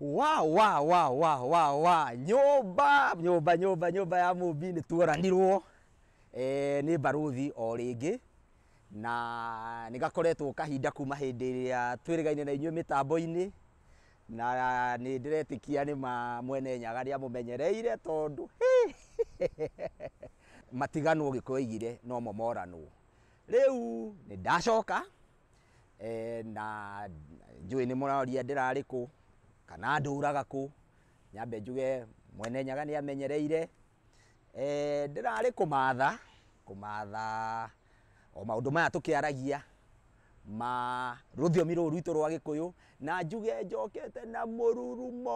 wa wa wa wa wa wa nyũmba nyũmba nyũmba nyũmba ya mũmbi nĩ tuoranirwo eh, nĩ mbarũthi o rĩngĩ na nĩ gakoretwo kahinda kuma hĩndĩ ĩrĩa twĩrĩgaine na inyuĩ mĩtambo-inĩ na nĩndĩretĩkia nĩma mwene nyaga nĩamũmenyereire tondũ hĩ! matiganwo ũgĩkũyũ aigire nomo moranwo rĩu nĩndacoka eh, na njũĩ nĩmũroria ndĩrarĩ kũ kana ndũraga kũ nyambe njuge mwene nyaga nĩamenyereire Eeh Ndĩrarĩ kũmatha, kũmatha o maũndũ maya tũkĩaragia ma rũthiomi rũrũ rwitũ rwa gĩkũyũ, na njuge njokete na mũrurumo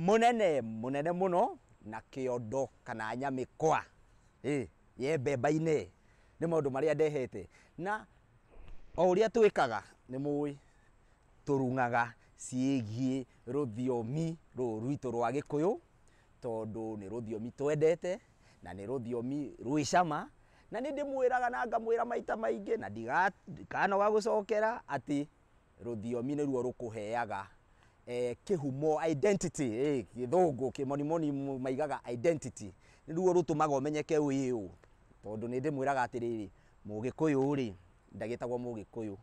mũnene, mũnene mũno, na kĩondo kana nyamĩkwa ĩĩ ye mbemba-inĩ, nĩ maũndũ marĩa ndehete. Na o ũrĩa twĩkaga nĩ mũĩ, tũrung'aga ciĩgiĩ rũthiomi rũrũ rwitũ rwa gĩkũyũ. tondũ nĩ rũthiomi twendete na nĩ rũthiomi rwĩ cama, na nĩ ndĩmwĩraga na ngamwĩra maita maingĩ na ndikanoga gũcokera atĩ rũthiomi nĩruo rũkũheaga kĩhumo, identity, gĩthũngũ, kĩmonimoni maigaga identity, nĩruo rũtũmaga ũmenyeke wĩ ũũ, tondũ nĩ ndĩmwĩraga atĩrĩrĩ, Mũgĩkũyũ-rĩ, ndagĩtagwo Mũgĩkũyũ,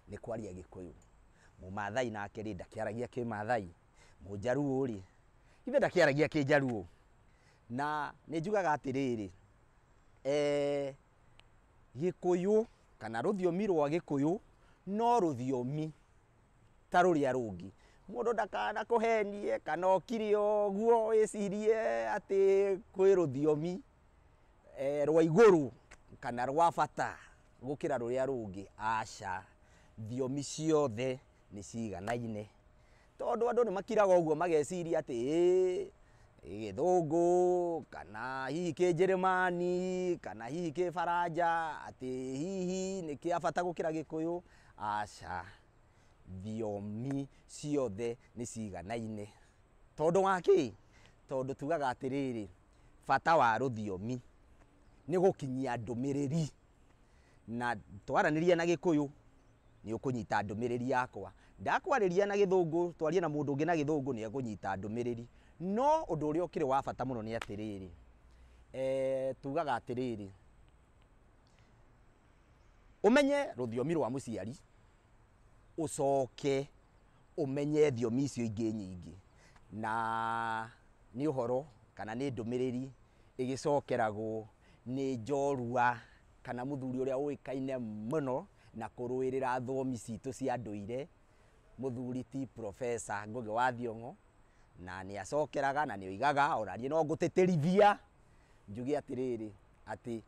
nĩ kwaria agĩkũyũ, Mũmathai nake-rĩ, ndakĩaragia kĩmathai. Mũjaruo-rĩ, ithuĩ ndakĩaragia kĩjaruo, na nĩ njugaga atĩrĩrĩ, Gĩkũyũ kana rũthiomi rwa Gĩkũyũ no rũthiomi ta rũrĩa rũngĩ. Mũndũ ndakanakũhenie kana ũkire ũguo wĩcirie atĩ kwĩ rũthiomi rwa igũrũ kana rwa bata gũkĩra rũrĩa rũngĩ, aca. Thiomi ciothe nĩ ciganaine. Tondũ andũ nĩ makiraga ũguo mageciria atĩ ĩĩ gĩthũngũ kana hihi kĩnjĩrĩmani kana hihi kĩbaranja atĩ hihi nĩ kĩa bata gũkĩra gĩkũyũ, aca. Thiomi ciothe nĩ ciganaine. Tondũ wa kĩ? Tondũ tugaga atĩrĩrĩ, bata wa rũthiomi nĩ gũkinyia ndũmĩrĩri. na twaranĩria na gĩkũyũ nĩ ũkũnyita ndũmĩrĩri yakwa, ndakwarĩria na gĩthũngũ twarie na mũndũ ũngĩ na gĩthũngũ nĩ ekũnyita ndũmĩrĩri. No ũndũ ũrĩa ũkĩrĩ wa bata mũno nĩ atĩrĩrĩ, tugaga atĩrĩrĩ, ũmenye rũthiomi rwa mũciari, ũcoke ũmenye thiomi icio ingĩ nyingĩ, na nĩ ũhoro kana nĩ ndũmĩrĩri ĩgĩcokeragwo Nĩ njorua kana mũthuri ũrĩa ũĩkaine mũno na kũrũĩrĩra thũũmi citũ cia ndũire, mũthuri ti Professor Ngũgĩ wa Thiong'o, na nĩ acokeraga na nĩ oigaga, o na niĩ no ngũtĩtĩrithia njuge atĩrĩrĩ, atĩ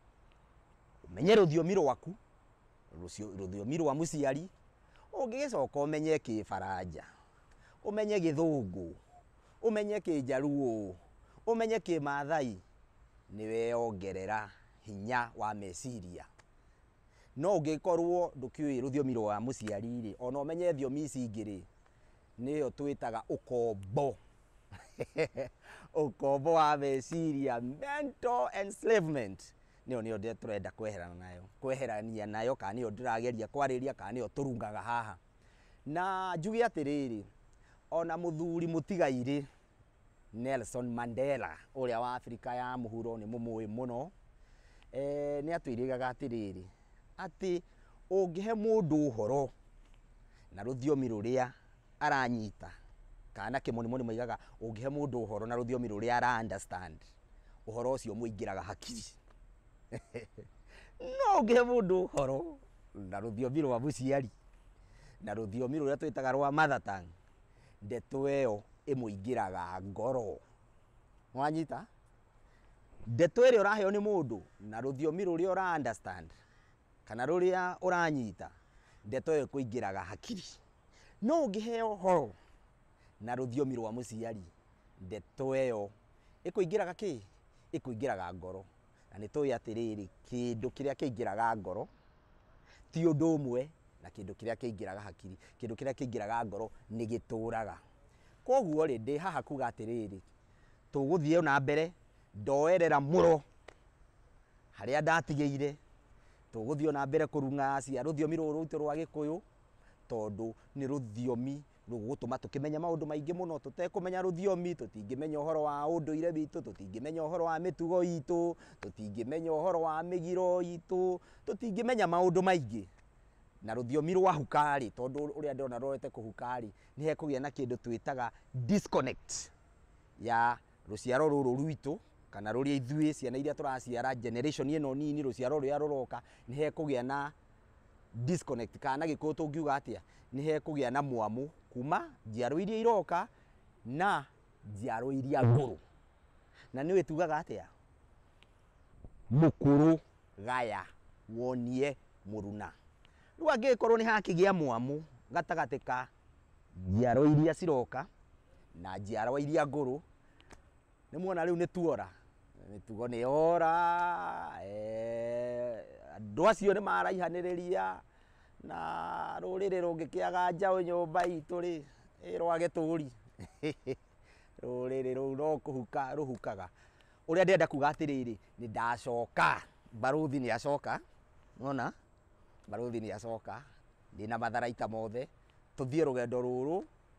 ũmenye rũthiomi rwaku, rũthiomi rwa mũciari, ũngĩgĩcoka ũmenye kĩbaranja, ũmenye gĩthũngũ, ũmenye kĩnjaruo, ũmenye kĩmaathai, nĩ weyongerera hinya wa meciria. No ũngĩkorũo ndũkĩũĩ rũthiomi rwa mũciari rĩ, o na ũmenye thiomi ici ingĩ rĩ, nĩyo twĩtaga ũkombo. Ũkombo wa meciria, mental enslavement, nĩyo nĩyo tũrenda kweherana nayo, kweherania nayo, kana nĩyo ndĩrageria kwarĩrĩria, kana nĩyo tũrungaga haha. Na njuge atĩrĩrĩ, o na mũthuri mũtigairĩ Nelson Mandela ũrĩa wa Abirika ya mũhuro nĩ mũmũĩ mũno, eeh nĩ atwĩrĩgaga atĩrĩrĩ, atĩ ũngĩhe mũndũ ũhoro na rũthiomi rũrĩa aranyita, kana na kĩmonimoni maugaga ũngĩhe mũndũ ũhoro na rũthiomi rũrĩa ara understand, ũhoro ũcio ũmũingĩraga hakiri. no ngĩhe mũndũ ũhoro na rũthiomi rwa mũciari na rũthiomi rũrĩa twĩtaga rwa mother tongue ndeto ĩyo ĩmũingĩraga ngoro wanyita ndeto ĩrĩa ũraheo nĩ mũndũ na rũthiomi rũrĩa ũra understand kana rũrĩa ũranyita ndeto ĩyo ĩkũingĩraga hakiri no ũngĩheo ũhoro Na rũthiomi rwa mũciari, ndeto ĩyo ĩkũingĩraga kĩ? Ĩkũingĩraga ngoro. Na nĩ tũĩ atĩrĩrĩ, kĩndũ kĩrĩa kĩingĩraga ngoro, ti ũndũ ũmwe na kĩndũ kĩrĩa kĩingĩraga hakiri. Kĩndũ kĩrĩa kĩingĩraga ngoro nĩ gĩtũraga. Kwoguo rĩ, ndĩ haha kuuga atĩrĩrĩ, tũgũthiĩ o na mbere, ndoerera mũro harĩa ndatigĩire, tũgũthiĩ o na mbere kũrung'acia rũthiomi rũrũ rwitũ rwa gĩkũyũ, tondũ nĩ rũthiomi nĩ ũgũgũtũma tũkĩmenye maũndũ maingĩ mũno tũtekũmenya rũthiomi, tũtingĩmenya ũhoro wa ũndũire witũ, tũtingĩmenya ũhoro wa mĩtugo itũ, tũtingĩmenya ũhoro wa mĩgiro itũ, tũtingĩmenya maũndũ maingĩ. Na rũthiomi rwahuka rĩ, tondũ ũrĩa ndĩrona rũrorete kũhuka rĩ, nĩ hekũgĩa na kĩndũ twĩtaga disconnect ya rũciaro rũrũ rwitũ kana rũrĩa ithuĩ ciana iria tũraciara generation ĩno nini rũciaro rũrĩa rũroka, nĩ hekũgĩa na disconnect kana na gĩkũyũ tũngiuga atĩa nĩ hekũgĩa na mwamũ kuma njiarwa iria iroka na njiarwa iria ngũrũ na nĩ wĩtugaga atĩa mũkũrũ gaya wonie mũruna rĩu angĩgĩkorwo nĩ hakĩgĩa mwamũ gatagatĩ ka njiarwa iria ciroka na njiarwa iria ngũrũ Nĩ muona rĩu nĩ tuora mĩtugo nĩ yora eh, andũ acio nĩ maraihanĩrĩria na rũrĩrĩ rũngĩkĩaga njaũ nyũmba itũ rĩ ĩrwage tũri rũrĩrĩ rũu no kũhuka rũhukaga ũrĩa ndĩrenda kuga atĩrĩrĩ nĩ ndacoka mbarũthi nĩ acoka nona mbarũthi nĩ acoka ndĩ na matharaita mothe tũthiĩ rũgendo rũrũ